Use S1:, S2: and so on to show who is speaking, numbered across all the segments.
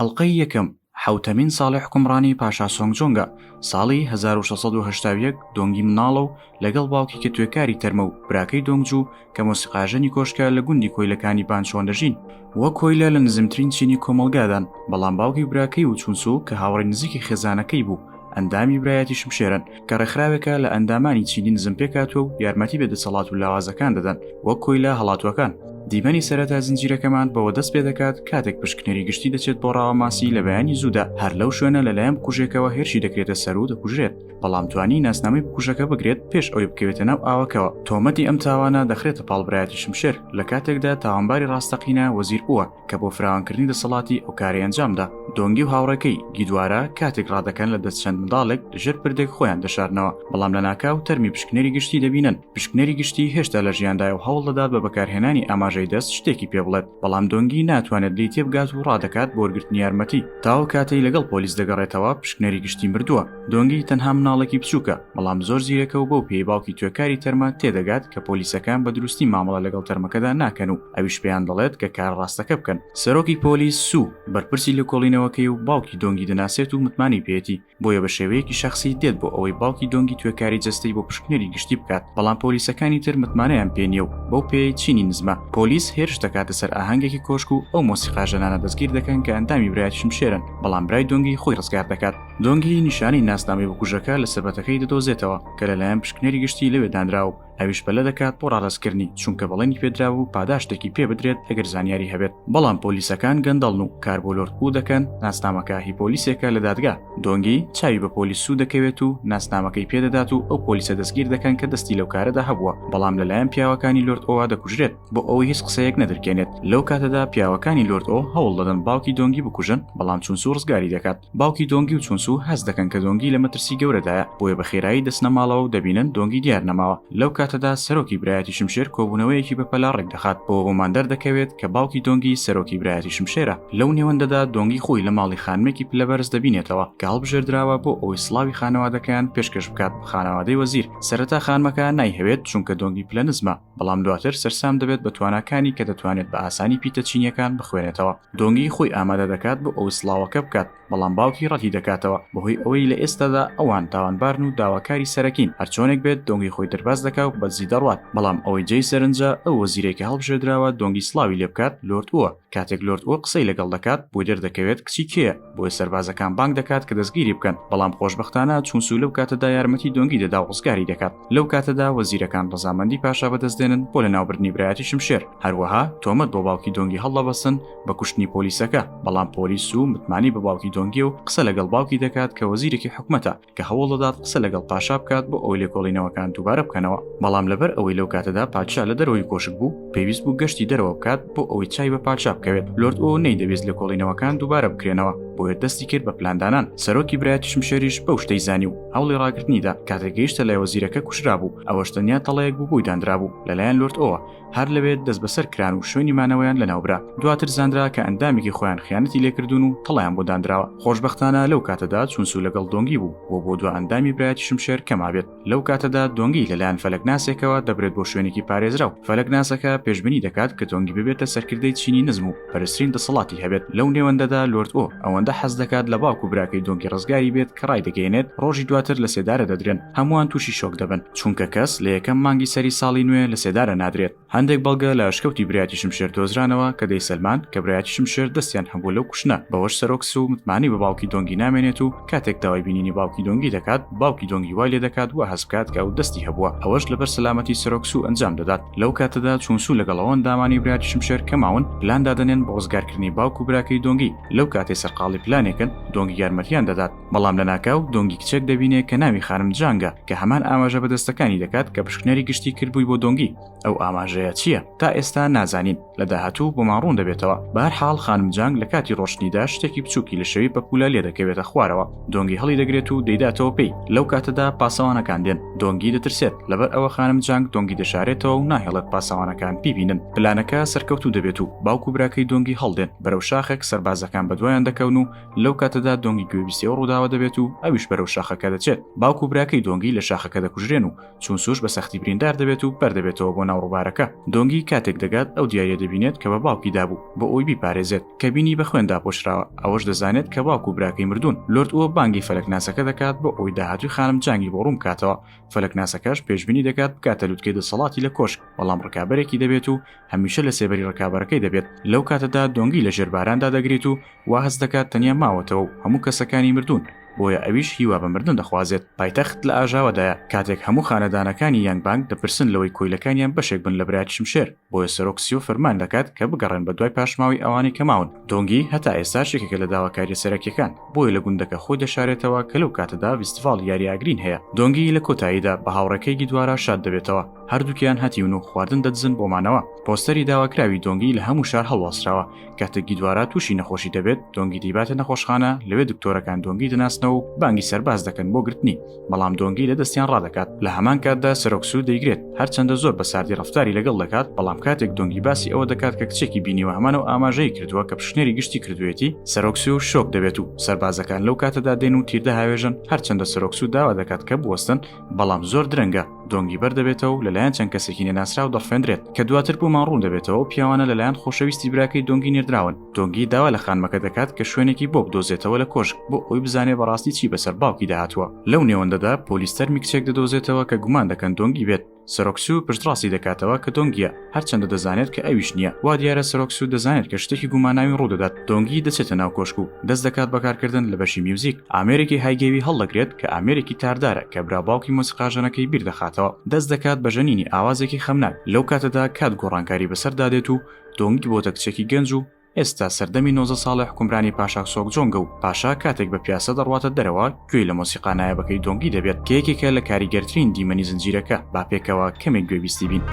S1: ئەڵقەی یەکەم، حەوتەمین ساڵی حوکمڕانی پاشا سۆنگجۆنگە، ساڵی هەزار و شەش سەد و هەشتا و یەک دۆنگی مناڵە و لەگەڵ باوکی کە توێکاری تەرمە و براکەی دۆنگجو کە مۆسیقاژەنی کۆشکە لە گوندی کۆیلەکانی بانچوان دەژین. وەک کۆیلە لە نزمترین چینی کۆمەڵگادان، بەڵام باوکی و براکەی و چونسو کە هاوڕێی نزیکی خێزانەکەی بوو ئەندامی برایەتی شمشێرن کە ڕێکخراوێکە لە ئەندامانی چینی نزم پێکاتوە و یارمەتی بە دەسەڵات و لاوازەکان دەدەن وەک کۆیلا هەڵاتوەکان دیمەنی سەرەتا زنجیرەکەمان بەوە دەست پێ دەکات کاتێک پشکنەری گشتی دەچێت بۆ ڕاوەماسی لە بەیانی زوودا هەر لەو شوێنە لەلایەن بکوژێکەوە هێرشی دەکرێتە سەر و دەکوژرێت بەڵام توانی ناسنامەی بکوژەکە بگرێت پێش ئەوی بکەوێتە ناو ئاوەکەوە تۆمەتی ئەم تاوانە دەخرێتە پاڵبرایەتی شمشێر لە کاتێکدا تاوانباری ڕاستەقینە وەزیر بووە کە بۆ فراوانکردنی دەسەڵاتی ئەو کاری ئەنجامدا دۆنگی و هاوڕێکەی گیدوارە کاتێک ڕادەکەن لە دەست چەند منداڵێک ژێر پردێک خۆیان دەشارنەوە بەڵام لە ناکاو تەرمی پشکنەری گشتی دەبینن پشکنەری گشتی هێشتا لە ژیاندای و هەوڵ دەدات بە بەکارهێنانی ئاماژەی دەست شتێکی پێ بڵێت بەڵام دۆنگی ناتوانێت لی تێبگات و ڕادەکات بۆرگرتنی یارمەتی تاو کاتەی لەگەڵ پۆلیس دەگەڕێتەوە پشکنەری گشتی مردووە دۆنگی تەنها مناڵێکی بچووکە بەڵام زۆر زیرەکە و بەو پێی باوکی توێکاری تەرمە تێدەگات کە پۆلیسەکان بە دروستی مامەڵە لەگەڵ تەرمەکەدا ناکەن و ئەویش پێیان دەڵێت کە کار ڕاستەکە بکەن سەرۆکی پۆلیس سوو بەرپرسی لە کۆڵینەوەکەی و باوکی دۆنگی دەناسێت و متمانی پێێتی بۆیە بە شێوەیەکی شخصی دێت بۆ ئەوەی باوکی دۆنگی توێکاری جەستەی بۆ پشکنەری گشتی بکات بەڵام پۆلیسەکانی تر متمانەیان پێ نیە و بەو پێی چینی نزمە پۆلیس هێرش دەکاتە سەر ئاهەنگێکی کۆشک و ئەو مۆسیقا ژەنانە دەستگیر دەکەن کە ئەندامی برایەتی شمشێرن بەڵام برای دۆنگی خۆی ڕزگار دەکات دۆنگی نیشانەی ناسنامەی بکوژەکە لە سەبەتەکەی دەدۆزێتەوە کە لەلایەن پشکنەری گشتی لەوێ دانراوە ئەویش پەلە دەکات بۆ ڕادەستکردنی چونکە بەڵێنی پێدراوە و پاداشتێکی پێ بدرێت ئەگەر زانیاری هەبێت بەڵام پۆلیسەکان گەندەڵن و کار بۆ لۆرد و دەکەن ناسنامەکە هی پۆلیسێکە لە دادگا دۆنگی چاوی بە پۆلیس سوو دەکەوێت و ناسنامەکەی پێدەدات و ئەو پۆلیسە دەستگیر دەکەن کە دەستی لەو کارەدا هەبووە بەڵام لەلایەن پیاوەکانی لۆرد ئەوە دەکوژرێت بۆ ئەوەی هیچ قسەیەک نەدرکێنێت لەو کاتەدا پیاوەکانی لۆرد ئەو هەوڵ دەدەن باوکی دۆنگی بکوژن بەڵام چونسو ڕزگاری دەکات باوکی دۆنگی و چونسو هەست دەکەن کە دۆنگی لە مەترسی گەورەدایە بۆیە بە خێرایی دەچنە ماڵەوە و دەبینن دۆنگی دیار نەماوە لەو کاتەدا سەرۆکی برایەتی شمشێر کۆبوونەوەیەکی بەپەلە ڕێکدەخات بەوە بۆمان دەردەکەوێت کە باوکی دۆنگی سەرۆکی برایەتی شمشێرە لەو نێوەندەدا دۆنگی خۆی لە ماڵی خانمێکی پلەبەرز دەبینێتەوە کە هەڵبژێردراوە بۆ ئەوەی سڵاوی خانەوادەکەیان پێشکەش بکات خانەوادەی وەزیر سەرەتا خانمەکە نایهەوێت چونکە دۆنگی پلە نزمە بەڵام دواتر سەرسام دەبێت بە تواناکانی کە دەتوانێت بە ئاسانی پیتە چینیەکان بخوێنێتەوە دۆنگی خۆی ئامادە دەکات بۆ ئەو سڵاوەکە بکات بەڵام باوکی ڕەتی دەکاتەوە بەهۆی ئەوەی لە ئێستادا ئەوان تاوانبارن و داواکاری سەرەکین هەرچۆنێک بێت دۆنگی خۆی دەرباز دەکا و بەدزی دەڕوات بەڵام ئەوەی جێی سەرنجە ئەو وەزیرێکە هەڵبژێردراوە دۆنگی سڵاوی لێ بکات لۆرد ئوە کاتێک لۆرد ئوە قسەی لەگەڵ دەکات بۆی دەردەکەوێت کچی کێیە بۆیە سەربازەکان بانگ دەکات کە دەستگیری بکەن بەڵام خۆشبەختانە چونسو لەو کاتەدا یارمەتی دۆنگی دەدا و ڕزگاری دەکات لەو کاتەدا وەزیرەکان ڕزامەندی پاشا بەدەست دێنن بۆ لە ناوبردنی برایەتی شمشێر هەروەها تۆمەت بۆ باوکی دۆنگی هەڵدەبەسن بە کوشتنی پۆلیسەکە بەڵام پۆلیس و متمانی بە باوکی دۆنگی و قسە لەگەڵ باوکی دەکات کە وەزیرێکی حکومەتە کە هەوڵدەدات قسە لەگەڵ پاشا بکات بۆ ئەوەی لێکۆڵینەوەکان دووبارە بکەنەوە بەڵام لەبەر ئەوەی لەو کاتەدا پادشا لە دەرەوەی کۆشک بوو پێویست بوو گەشتی دەرەوە بکات بۆ ئەوەی چای بە پادشا بکەوێت لۆرد ئەو نەیدەویست لێکۆڵینەوەکان دووبارە بکرێنەوە بۆیە دەستی کرد بە پلاندانان سەرۆکی برایەتی شمشێریش بەو شتەی زانی و هەوڵی ڕاگرتنیدا کاتێک گەیشتە لای وەزیرەکە کوشرا بوو ئەوەش تەنیا تەڵەیەک بوو بووی دانرا بوو لەلایەن لرد ئەوە هەر لەوێت دەست بەسەر کران و شوێنی مانەوەیان لەناوبرا دواتر زانرا کە ئەندامێکی خۆیان خیانەتی لێکردون و تەڵیان بۆ دانراوە خۆشببختانە لەو کاتەدا چونسو لەگەڵ دۆنگی بوو بۆ بۆ دو ئەندامی برایەتی شمشێر کەمابێت لەو کاتەدا دۆنگی لەلایەن فەلەکناسێکەوە دەبرێت بۆ شوێنێکی پارێزراو فەلەکناسەکە پێشبنی دەکات کە دۆنگی ببێتە سەرکردەی چینی نزم و بەرزترین دەسەڵاتی هەبێت لەو نێوەندەدا لۆرد ئۆ ئەوەندە حەز دەکات لە باوکو براکەی دۆنگی ڕزگاری بێت کە ڕای دەگەێنێت ڕۆژی دواتر لە سێدارە دەدرێن هەمووان تووشی شۆک دەبن چونکە کەس لە یەکەم مانگی سەری ساڵی نوێ لە سێدارە نادرێت هەندێک بەڵگە لە ئەشکەوتی برایەتی شمشێر دۆزرانەوە کە دەیسەلمان کە برایەتی شمشێر دەستیان هەبوو لەو کوشنە بەوەش سەرۆک سو متمانەی بە باوکی دۆنگی نامێنێت و کاتێک داوای بینینی باوکی دۆنگی دەکات باوکی دۆنگی وای لێدەکات وا هەست بکات کە ئەو دەستی هەبووە ئەوەش لەبەر سەلامەتی سەرۆک سوو ئەنجام دەدات لەو کاتەدا چوون سوو لەگەڵ ئەو ئەندامانی براتی شمشێر کە ماون پلان دادەنێن بۆ ڕزگارکردنی باوک و براکەی دۆنگی لەو کاتەی سەرقاڵی پلانێکن دۆنگی یارمەتیان دەدات بەڵام لەناکاو دۆنگی کچێک دەبینێ کە ناوی خانم جانگە کە هەمان ئاماژە بە دەستەکانی دەکات کە پشکنەری گشتی کردبووی بۆ دۆنگی ئەو ئاماژەیە چییە تا ئێستا نازانین لە داهاتوو بۆمان ڕوون دەبێتەوە بار حاڵ خانم جانگ لە کاتی ڕۆشتنیدا شتێکی بچووکی لە شەوی بەپولە لێ دەکەوێتە خوارەوە دۆنگی هەڵی دەگرێت و دەیداتەوە پێی لەو کاتەدا پاسەوانەکان دێن دۆنگی دەترسێت لەبەر ئەوە خانم جانگ دۆنگی دەشارێتەوە و ناهێڵێت پاسەوانەکان بیبینن پلانەکە سەرکەوتوو دەبێت و باوک و براکەی دۆنگی هەڵدێن بەرەو شاخێک سەربازەکان بەدوایان دەکەون و لەو کاتەدا دۆنگی گوێبیستەوە ڕووداوە دەبێت و ئەویش بەرەو شاخەکە دەچێت باوک و براکەی دۆنگی لە شاخەکە دەکوژرێن و چون سوش بە سەختی بریندار دەبێت و بەردەبێتەوە بۆ ناو ڕووبارەکە دۆنگی کاتێک دەگات ئەو دیارە دەبینێت کە بە باوکی دابوو بۆ ئەوی بیپارێزێت کە بینی بە خوێن داپۆشراوە ئەوەش دەزانێت کە باوک و براکەی مردوون لرد ئەوە بانگی فەلەکناسەکە دەکات بۆ ئەوی داهاتوی خانم جانگی بۆ ڕوون کاتەوە فەلەکناسەکەش پێشبینی دەکات بکاتە لوتکەی دەسەڵاتی لە کۆشک بەڵام ڕکابەرێکی دەبێت و هەمیشە لە سێبەری ڕکابەرەکەی دەبێت لەو کاتەدا دۆنگی لە ژێرباراندا دەگریت و وا هەست دەکات تەنیا ماوەتەوە و هەموو کەسەکانی مردوون، بۆیە ئەویش هیوا بە مردن دەخوازێت. پایتەخت لە ئاژاوەدایە، کاتێک هەموو خانەدانەکانی یانگبانگ دەپرسن لەوەی کۆیلەکانیان بەشێک بن لە برایەتی شمشێر، بۆیە سەرۆک سیۆ فەرمان دەکات کە بگەڕێن بەدوای پاشماوەی ئەوانەی کە ماون. دۆنگی هەتا ئێستاش یەکێکە لە داواکارییە سەرەکییەکان، بۆیە لە گوندەکە خۆی دەشارێتەوە کە لەو کاتەدا ڤیستڤاڵی یاری ئاگرین هەیە. دۆنگی لە کۆتاییدا بە هاوڕێکەی گیدوارا شاد دەبێتەوە، هەردووکیان هەتیون و خواردن دەدزن بۆ مانەوە. پۆستەری داواکراوی دۆنگی لە هەموو شار هەڵواسراوە، کاتێک گیدوارا تووشی نەخۆشی دەبێت دۆنگی دیباتە نەخۆشخانە لەوێ دکتۆرەکان دۆنگی دەناسنەوە و بانگی سەرباز دەکەن بۆ گرتنی بەڵام دۆنگی لە دەستیان ڕادەکات لە هەمان کاتدا سەرۆکسو دەیگرێت هەرچەندە زۆر بە ساردی ڕفتاری لەگەڵ دەکات بەڵام کاتێک دۆنگی باسی ئەوە دەکات کە کچێکی بینیوە هەمانە و ئاماژەی کردووە کە پشنێری گشتی کردوێتی سەرۆکسی و شۆک دەبێت و سەربازەکان لەو کاتەدا دێن و تیردە هاوێژن هەرچەندە سەرۆکسو داوا دەکات کە بوەستن بەڵام زۆر درەنگە دۆنگی بەردەبێتەوە و لەلایەن چەند کەسێکی نەناسراو دەڕفێندرێت کە دواتر بۆمان ڕوون دەبێتەوە پیاوانە لەلایەن خۆشەویستی براکەی دۆنگی نێردراون دۆنگی داوا لە خانمەکە دەکات کە شوێنێکی بۆ بدۆزێتەوە لە کۆشک بۆ ئەوی بزانێ بەڕاستی چی بەسەر باوکی داهاتوە لەو نێوەندەدا پۆلیستەر میکچێک دەدۆزێتەوە کە گومان دەکەن دۆنگی بێت سەرۆکسو پشتڕاستی دەکاتەوە کە دۆنگە هەرچەندە دەزانێت کە ئەویش نییە وا دیارە سەرۆک سوود دەزانێت کە شتێکی گوماناوی ڕوودەدات دۆنگی دەچێتە ناو کۆشک و دەست دەکات بەکارکردن لە بەشی میوزیک ئامێرێکی هایگێوی هەڵدەگرێت کە ئامێرێکی تاردارە کە برا باوکی مۆسیقاژەنەکەی بیردەخاتەوە دەست دەکات بە ژەنینی ئاوازێکی خەمناک لەو کاتەدا کات گۆڕانکاری بەسەردا دێت و دۆنگی بۆتە کچێکی گەنج و ئێستا سەردەمی نۆزدە ساڵەی حوکمرانی پاشاک سۆکجۆنگە و پاشا کاتێک بە پیاسە دەڕواتە دەرەوە گوێی لە مۆسیقا نایابەکەی دۆنگی دەبێت کە یەکێکە لە کاریگەرترین دیمەنی زنجیرەکە با پێکەوە کەمێک گوێبیستی بین.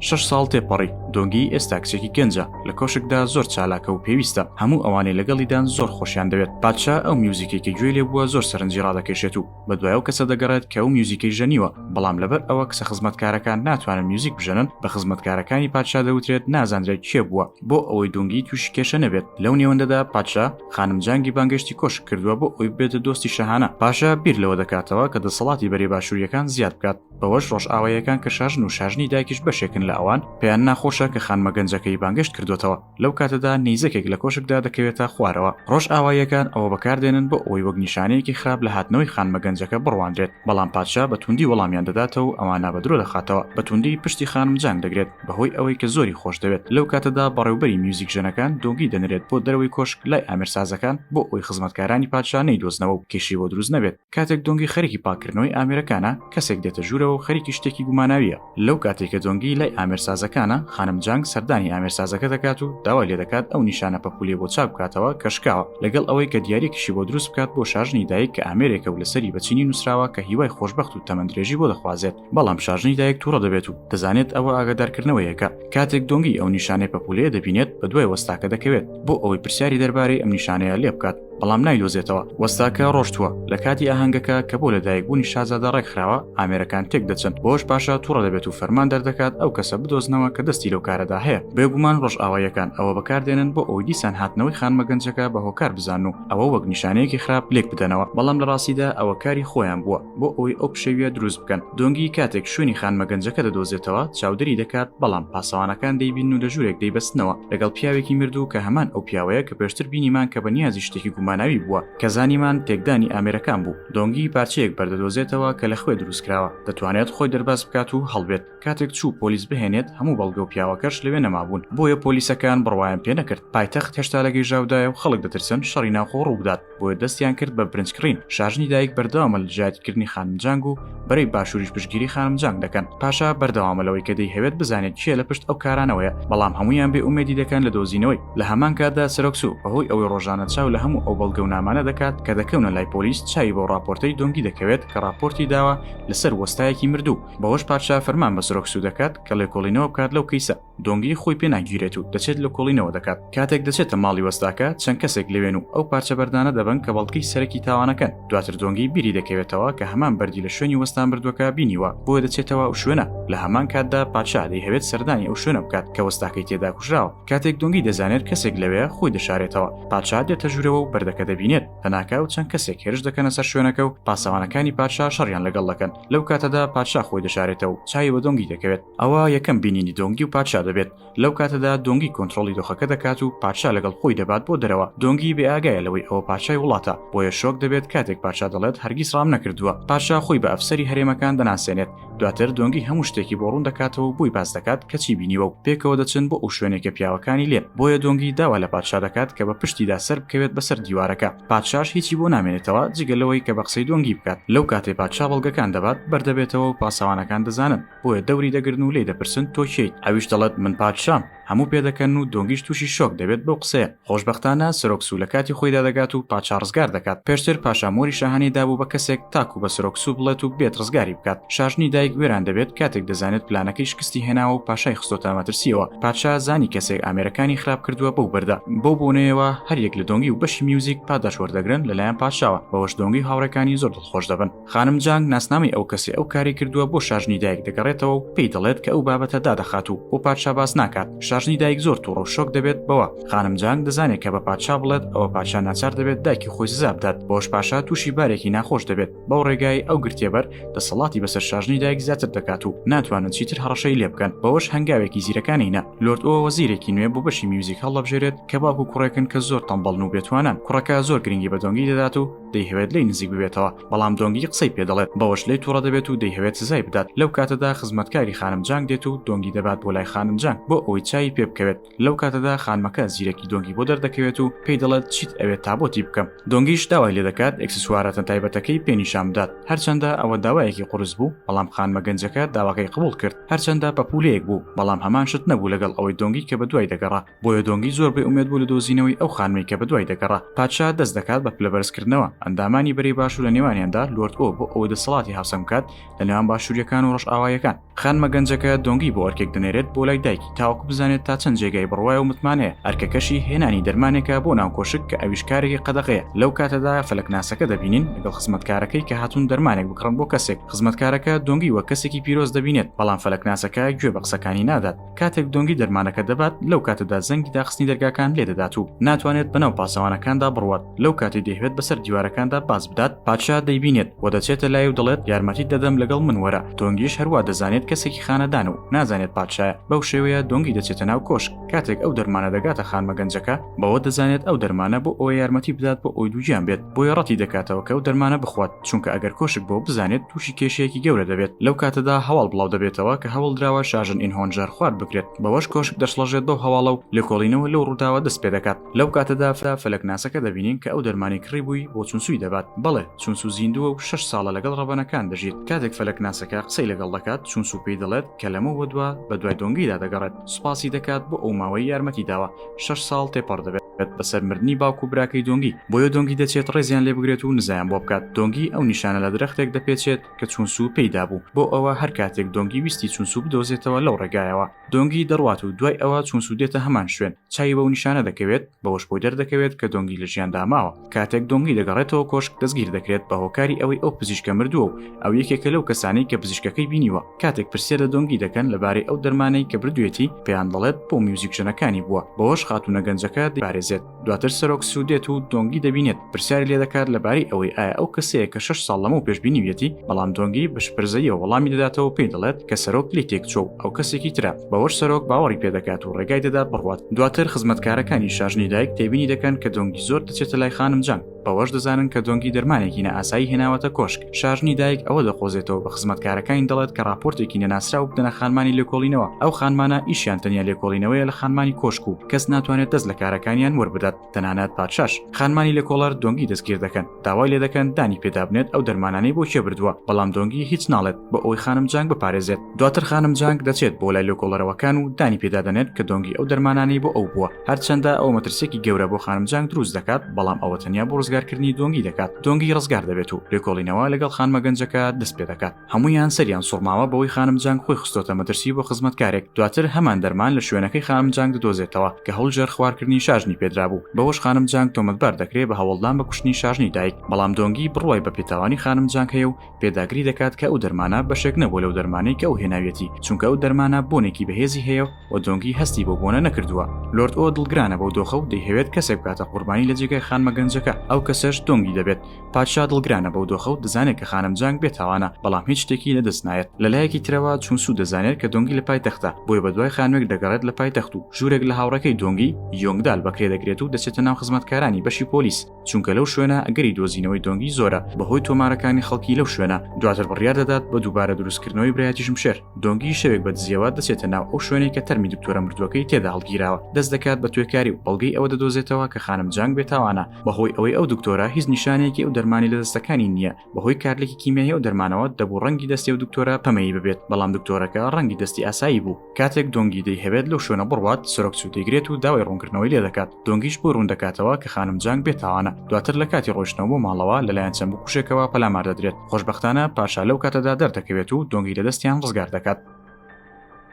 S1: شەش ساڵ تێپەڕی دۆنگی ئێستا کچێکی گەنجە لە کۆشکدا زۆر چالاکە و پێویستە هەموو ئەوانەی لەگەڵیدان زۆر خۆشیان دەوێت پادشا ئەو میوزیکێکی گوێ لێ بووە زۆر سەرنجی ڕادەکێشێت و بە دوایەو کەسە دەگەڕێت کە ئەو میوزیکەی ژەنیوە بەڵام لەبەر ئەوە کسە خزمەتکارەکان ناتوانن میوزیک بژەنن بە خزمەتکارەکانی پادشا دەوترێت نازانرێت کێ بووە بۆ ئەوەی دۆنگی تووشی کێشە نەبێت لەو نێوەندەدا پادشا خانم جانگی بانگەشتی کۆشک کردووە بۆ ئەوی بێتە دۆستی شەهانە پاشە بیر لەوە دەکاتەوە کە دەسەڵاتی بەرەی باشووریەکان زیاد بکات بەوەش ڕۆژئاواییەکان کە شاژن و شاژنی دایکیش بەشێکن لە ئەوان پێیان ناخۆشە کە خانمە گەنجەکەی بانگەشت کردوێتەوە لەو کاتەدا نیزەکێک لە کۆشکدا دەکەوێتە خوارەوە ڕۆژئاواییەکان ئەوە بەکاردێنن بۆ ئەوەی وەک نیشانەیەکی خراپ لە هاتنەوەی خانمە گەنجەکە بڕوانرێت بەڵام پادشا بە توندی وەڵامیان دەداتەوە و ئەوانە بە درۆ دەخاتەوە بە توندی پشتی خانم جانگ دەگرێت بەهۆی ئەوەی کە زۆری خۆشدەوێت، لەو کاتەدا بەڕێوبەری میوزیکژەنەکان دۆنگی دەنرێت بۆ دەرەوەی کۆشک لای ئامێرسازەکان بۆ ئەوەی خزمەتکارانی پادشا نەیدۆزنەوە و کێشەی بۆ دروست نەبێت، کاتێک دۆنگی خەریکی پاککردنەوەی ئامێرەکانە کەسێک دێتە ژوورەوە و خەریکی شتێکی گوماناوییە، لەو کاتەی کە دۆنگی لای ئامێرسازەکانە خانم جانگ سەردانی ئامێرسازەکە دەکات و داوای لێدەکات ئەو نیشانە پەپوولەی بۆ چاک بکاتەوە کە شکاوە، لەگەڵ ئەوەی کە دیاریەکیشی بۆ دروست بکات بۆ شاژنی دایک کە ئامێرێکە و لەسەری بە چینی نووسراوە کە هیوای خۆشبەخت و تەمەندرێژی بۆ دەخوازێت. بەڵام شارژنی دایک تووڕە دەبێت و دەزانێت ئەوە ئاگادارکردنەوەیەکە کاتێک دۆنگی ئەو نیشانەی پەپولەیە دەبینێت بە دوای وەستاکە دەکەوێت بۆ ئەوەی پرسیاری دەربارەی ئەم نیشانەیە لێ بکات بەڵام نایدۆزێتەوە وەستاکە ڕۆشتووە لە کاتی ئاهەنگەکە کە بۆ لەدایک بوونی شازادە ڕێکخراوە ئامێرەکان تێک دەچن بۆش باشە تووڕە دەبێت و فەرمان دەردەکات ئەو کەسە بدۆزنەوە کە دەستی لەو کارەدا هەیە بێگومان ڕۆژئاواییەکان ئەوە بەکاردێنن بۆ ئەوی دیسان هاتنەوەی خانمە گەنجەکە بە هۆکار بزان و ئەوە وەک نیشانەیەکی خراپ لێک بدەنەوە بەڵام لە ڕاستیدا ئەوە کاری خۆیان بووە بۆ ئەوەی ئەو پشەویە دروست بکەن دۆنگی کاتێک شوێنی خانمە گەنجەکە دەدۆزێتەوە چاودێری دەکات بەڵام پاسەوانەکان دەیبین و لە ژوورێک دەیبەستنەوە لەگەڵ پیاوێکی مردوو کە هەمان ئەو پیاوەیە کە پێشتر بینیمان کە بە نیازی شتێکی گوماناوی بووە کە زانیمان تێکدانی ئامێرەکان بوو دۆنگی پارچەیەک بەردەدۆزێتەوە کە لە خوێ دروستکراوە دەتوانێت خۆی دەرباز بکات و هەڵبێت کاتێک چوو پۆلیس بهێنێت هەموو بەڵگە و پیاوەکەش لەوێ نەمابوون بۆیە پۆلیسەکان بڕوایم پێ نەکرد پایتەخت هێشتا لە گەیژاودایە و خەڵک دەترسن شەڕی ناوخۆ ڕووبدات بۆیە دەستیان کرد بە برنج کڕین شاژنی دایک بەردەوامە لە دژایەتیکردنی خانم جانگ و بەرەی باشووریش پشگیری خانم جانگ دەکەن پاشا بەردەوامە لەوەی کە دەیهەوێت بزانێت کێ لە پشت ئەو کارانەوەیە بەڵام هەموویان بێ ئومێدی دەکەن لە دۆزینەوەی لە هەمان کاتدا سەرۆک سوو بەهۆی ئەوەی ڕۆژانە چاو لە هەموو ئەو بەڵگە و نامانە دەکات کە دەکەونە لای پۆلیس چاوی بۆ ڕاپۆرتەی دۆنگی دەکەوێت کە ڕاپۆرتی داوە لەسەر وەستایەکی مردوو بەوەش پادشا فەرمان بە سرۆک سوو دەکات کە لێکۆڵینەوە بکات لەو کەیسە دۆنگی خۆی پێ ناگیرێت و دەچێت لە کۆڵینەوە دەکات کاتێک دەچێتە ماڵی وەستاکە چەند کەسێک لەوێن و ئەو پارچە بەردانە دەبن کە بەڵکەی سەرەکی تاوانەکەن دواتر دۆنگی بیری دەکەوێتەوە کە هەمان بەردی لە شوێنی وەستان بردووەکە بینیوە بۆ دەچێتەوە ئەو شوێنە لە هەمان کاتدا پادشا دەی هەوێت سەردانی ئەو شوێنە بکات کە وەستاکەی تێدا کوژراوە کاتێک دۆنگی دەزانێت کەسێک لەوێ خۆی دەشارێتەوە پادشا دێتە ژوورەوە و بەردەکە دەبینێت هەناکاو چەند کەسێک هێرش دەکەنە سەر شوێنەکە و پاسەوانەکانی پادشا شەڕیان لەگەڵ دەکەن لەو کاتەدا پادشا خۆی دەشارێتە و چاوی بە دۆنگی دەکەوێت ئەوە یەکەم بینینی دۆنگی و پادشا دەبێت لەو کاتەدا دۆنگی کۆنتترۆلی دۆخەکە دەکات و پادشا لەگەڵ خۆی دەبات بۆ دەرەوە دۆنگی بێ ئاگایە لەوەی ئەوە پادشای وڵاتە بۆیە شۆک دەبێت کاتێک پادشا دەڵێت هەرگیز ڕام نەکردووە پادشا خۆی بە ئەفسەری هەرێمەکان دەناسێنێت دواتر دۆنگی هەموو شتێکی بۆ ڕوون دەکاتەوە و بۆی باس دەکات کەچی بینیوە و پێکەوە دەچن بۆ ئەو شوێنێکە پیاوەکانی لێن بۆیە دۆنگی داوا لە پادشا دەکات کە بە پشتیدا سەر بکەوێت بەسەر دیوارەکە پادشاش هیچی بۆ نامێنێتەوە جگە لەوەی کە بە قسەی دۆنگی بکات لەو کاتەی پادشا بەڵگەکان دەبات بەردەبێتەوە و پاسەوانەکان دەزانن بۆیە دەوری دەگرن و لێی دەپرسن تۆ کێیت ئەویش دەڵێت من پادشام هەموو پێدەکەن و دۆنگیش تووشی شۆک دەبێت بەو قسەیە، خۆشبەختانە سەرۆک سوو لە کاتی خۆیدا دەگات و پادشا ڕزگار دەکات، پێشتر پاشا مۆری شاهانەی دابوو بە کەسێک تاکوو بە سەرۆک سوو بڵێت و بێت ڕزگاری بکات، شاژنی دایک وێران دەبێت کاتێک دەزانێت پلانەکەی شکستی هێناوە و پاشای خستۆتە مەترسییەوە، پادشا زانی کەسێک ئامێرەکانی خراپ کردووە بەو بەردە، بەو بۆنەیەوە هەریەک لە دۆنگی و بەشی میوزیک پاداشت وەردەگرن لەلایەن پادشاوە، بەوەش دۆنگی و هاوڕێکانی زۆر دڵخۆش دەبن. خانم جانگ ناسنامەی ئەو کەسێ ئەو کاری کردووە بۆ شاژنی دایک دەگەڕێتەوە و پێی دەڵێت کە ئەو بابەتە دادەخات و بۆ پادشا باس ناکات شاژنی دایک زۆر تووڕە و شۆک دەبێت بەوە خانم جانگ دەزانێت کە بە پادشا بڵێت ئەوە پادشا ناچار دەبێت دایکی خۆی سزا بدات بۆش پاشا تووشی بارێکی ناخۆش دەبێت بەو ڕێگای ئەو گرتێبەر دەسەڵاتی بەسەر شاژنی دایک زیاتر دەکات و ناتوانن چیتر هەڕەشەی لێ بکەن بەوەش هەنگاوێکی زیرەکانی نە لۆرد ئەوە وەزیرێکی نوێ بۆ بەشی میوزیک هەڵەبژێرێت کە باوکو کوڕێکن کە زۆر تەمبەڵن و بێتوانان کوڕەکە زۆر گرنگی بە دۆنگی دەدات و دەیهەوێت لێی نزیک ببێتەوە بەڵام دۆنگی قسەی پێ دەڵێت بەوەش لێ توڕە دەبێت و دەیهەوێت سزای بدات لەو کاتەدا خزمەتکاری خانم جانگ دێت و دۆنگی دەبات بۆ لای خانم جانگ بۆ ئەوەی چاوی پێ بکەوێت لەو کاتەدا خانمەکە زیرەکی دۆنگی بۆ دەردەکەوێت و پێی دەڵێت چیت ئەوێت تا بۆتی بکەم دۆنگیش داوای لێ دەکات ئەکسسواراتە تایبەتەکەی پێ نیشان بدات هەرچەندە ئەوە داوایەکی قورس بوو بەڵام خانمە گەنجەکە داواکەی قبوڵ کرد هەرچەندە پەپولەیەک بوو بەڵام هەمان شت نەبوو لەگەڵ ئەوەی دۆنگی کە بەدوای دەگەڕا بۆیە دۆنگی زۆر بێ ئومێد بوو لە دۆزینەوەی ئەو خانمەی کە بەدوای دەگەڕا پادشا دەست دەکات بە پلەبەرزکردنەوە ئەندامانی بەرەی باشوور لە نێوانیاندا لۆرد ئۆ بۆ ئەوە دەسەڵاتی هاوسەنگ بکات لە نێوان باشووریەکان و ڕەشئاوایەکان خانمە گەنجەکە دۆنگی بۆ ئەرکێک دەنێرێت بۆ لای دایکی تاوەکو بزانێت تا چەند جێگای بڕوایە و متمانەیە ئەرکەکەشی هێنانی دەرمانێکە بۆ ناو کۆشک کە ئەویش کارێکی قەدەغەیە لەو کاتەدا فەلەکناسەکە دەبینین لەگەڵ خزمەتکارەکەی کە هاتوون دەرمانێک بکڕن بۆ کەسێک خزمەتکارەکە دۆنگی وە کەسێکی پیرۆز دەبینێت بەڵام فەلەکناسەکە گوێ بە قسەکانی نادات کاتێک دۆنگی دەرمانەکە دەبات لەو کاتەدا زەنگی داخستنی دەرگاکان لێ دەدات و ناتوانێت بەناو پاسەوانەکاندا بڕوات لەو کاتی دەیهوێت بەسەر دیوارەکاندا باز بدات پادشا دەیبینێت و دەچێتە لای و دەڵێت یارمەتی دەدەم لەگەڵ من وەرە دۆنگیش هەروە دەزانێت کەسێکی خانەدان و نازانێت پادشایە بەو شێوەیە دۆنگی دەچێتە ناو کۆشک کاتێک ئەو دەرمانە دەگاتە خانمە گەنجەکە بەوە دەزانێت ئەو دەرمانە بۆ ئەوە یارمەتی بدات بۆ ئەوی دووگیان بێت بۆیە ڕەتی دەکاتەوە کە ئەو دەرمانە بخوات چونکە ئەگەر کۆشک بۆ بزانێت تووشی کێشەیەکی گەورە دەبێت لەو کاتەدا هەواڵ بڵاو دەبێتەوە کە هەوڵ دراوە شاژن ئینهۆنجار خوارد بکرێت بەوەش کۆشک دەشڵەژێت بەو هەواڵە و لێکۆڵینەوە لەو ڕووداوە دەست پێ دەکات لەو کاتەدا فرا فەلەکناسەکە دەبینین کە ئەو دەرمانی کڕی بووی بۆ چونسوی دەبات بەڵێ چونسو زیندووە و شەش ساڵە لەگەڵ ڕەبەنەکان دەژیت کاتێک فەلەکناسەکە قسەی لەگەڵ دەکات چونسو پێی دەڵێت کە لەمە وەدووە بە دوای دۆنگیدا دەگەڕێت سوپاسی دەکات بۆ ئەو ماوەی یارمەتی داوە شەش ساڵ تێپەڕ دەبێت. بێت بەسەر مردنی باوکو براکەی دۆنگی بۆیە دۆنگی دەچێت ڕێزیان لێ بگرێت و نزایان بۆ بکات دۆنگی ئەو نیشانە لە درەختێک دەپێچێت کە چونسو پێیدا بوو بۆ ئەوە هەر کاتێک دۆنگی ویستی چونسو بدۆزێتەوە لەو ڕێگایەوە دۆنگی دەڕوات و دوای ئەوە چونسو دێتە هەمان شوێن چاوی بەو نیشانە دەکەوێت بەوەش بۆی دەردەکەوێت کە دۆنگی لە ژیاندا ماوە. کاتێک دۆنگی دەگەڕێتەوە کۆشک دەستگیر دەکرێت بە هۆکاری ئەوەی ئەو پزیشکە مردووە و ئەو یەکێکە لەو کەسانەی کە پزیشکەکەی بینیوە کاتێک پرسیار لە دۆنگی دەکەن لەبارەی ئەو دەرمانەی کە بردوێتی پێیان دەڵێت بۆ میوزیک ژەنەکانی بووە بەوەش خاتونە گەنجەکە دەپارێزێت دواتر سەرۆک سو دێت و دۆنگی دەبینێت پرسیاری لێ دەکات لەبارەی ئەوەی ئایا ئەو کەسەیە کە شش ساڵ لەمەو پێش بینیویەتی بەڵام دۆنگی بە شپرزەییەوە وەڵامی دەداتەوە پێی دەڵێت کە سەرۆک لێی تێکچووە و ئەو کەسێکی ترە بەوەش سەرۆک باوەڕی پێدەکات و ڕێگای دەدا بڕوات دواتر خزمەتکارەکانی شاژنی دایک تێبینی دەکەن کە دۆنگی زۆر دەچێتە لای خانم جان بەوەش دەزانن کە دۆنگی دەرمانێکی نە ئاسایی هێناوەتە کۆشک شاژنی دایک ئەوە دەقۆزێتەوە بە خزمەتکارەکانی دەڵێت کە راپۆرتێکی نەناسرا و بدەنە خانمانی لێکۆڵینەوە ئەو خانمانە ئیشیان تەنیا لێکۆڵینەوەیە لە خانمانی کۆشک و کەس ناتوانێت دەست لە کارەکانیان وەربدات تەنانەت پادشاش خانمانی لە کۆڵەر دۆنگی دەستگیر دەکەن داوای لێ دەکەن دانی پێدابنێت ئەو دەرمانانەی بۆ کێ بردووە بەڵام دۆنگی هیچ ناڵێت بۆ ئەوەی خانم جانگ بپارێزێت دواتر خانم جانگ دەچێت بۆ لای لۆکۆڵەرەوەکان و دانی پێدادەنێت کە دۆنگی ئەو دەرمانانەی بۆ ئەو بووە هەرچەندە ئەو مەترسێکی گەورە بۆ خانم جانگ دروست دەکات بەڵام ئەوە تەنیا بۆ ڕزگارکردنی دۆنگی دەکات دۆنگی ڕزگار دەبێت و لێکۆڵینەوە لەگەڵ خانمە گەنجەکە دەست پێ دەکات هەموویان سەریان سوڕماوە بەوەی خانم جانگ خۆی خستۆتە مەترسی بۆ خزمەتکارێک دواتر هەمان دەرمان لە شوێنەکەی خانم جانگ دۆزێتەوە کە هەولجەر خوارکردنی شاژنی پێدرابوو بەوەش خانم جانگ تۆمەتبار دەکرێت بە هەوڵدان بە کوشتنی شاژنی دایک بەڵام دۆنگی بڕوای بە پێتاوانی خانم جانگ هەیە و پێداگری دەکات کە ئەو دەرمانە بەشێک نەبووە لەو دەرمانەی کە ئەو هێناویەتی چونکە ئەو دەرمانە بۆنێکی بەهێزی هەیە و دۆنگی هەستی بەو بۆنە نەکردووە لۆرد ئۆ دڵگرانە بەو دۆخە و دەیهەوێت کەسێک بکاتە قوربانی لە جێگای خانمە گەنجەکە ئەو کەسەش دۆنگی دەبێت پادشا دڵگرانە بەو دۆخە و دەزانێت کە خانم جانگ بێتاوانە بەڵام هیچ شتێکی لەدەست نایەت لە لایەکی ترەوە چون سوود دەزانێت کە دۆنگی لە پای تەختە بۆیە بە دوای خانوێک دەگەڕێت لە پای تەخت و ژوورێک لە هاوڕەکەی دۆنگی یۆنگدال بەکرێ دەگرێت و دەچێتە ناو خزمەتکارانی بەشی پۆلیس چونکە لەو شوێنە ئەگەری دۆزینەوەی دۆنگی زۆرە بەهۆی تۆمارەکانی خەڵکی لەو شوێنە دواتر بڕیار دەدات بە دووبارە دروستکردنەوەی برایەتی ژمشێر دۆنگی شەوێک بە دزیەوە دەچێتە ناو ئەو شوێنێک کە تەرمی دکتۆرە مردووەکەی تێدا هەڵگیراوە دەست دەکات بە توێکاری و بەڵگەی ئەوە دەدۆزێتەوە کە خانم جانگ بێتاوانە بەهۆی ئەوەی ئەو دکتۆرە هیچ نیشانەیەکی ئەو دەرمانی لە دەستەکانی نییە بەهۆی کارلێکی کیمیایی ئەو دەرمانەوە دەبوو ڕەنگی دەستی و دکتۆرە پەمەیی ببێت بەڵام دکتۆرەکە ڕەنگی دەستی ئاسایی بوو کاتێک دۆنگی دەی هەوێت لەو شوێنە بڕوات سەرۆک سو دەیگرێت و داوای ڕوونکردنەوەی لێ دەکات دۆنگیش بۆی ڕوون دەکاتەوە کە خانم جانگ بێتاوانە دواتر لە کاتی ڕۆشتنەوە بۆ ماڵەوە لەلایەن چەند بکوژێکەوە پەلامار دەدرێت خۆشببختانە پاشا لەو کاتەدا دەردەکەوێت و دۆنگی لە دەستیان ڕزگار دەکات.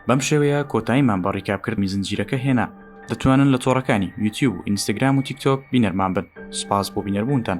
S1: بەم شێوەیە کۆتاییمان بە ڕیکابکردنی زنجیرەکە هێنا دەتوانن لە تۆڕەکانی یوتیوب و ئینستاگرام و تیکتۆک بینەرمان بن سپاس بۆ بینەربوونتان.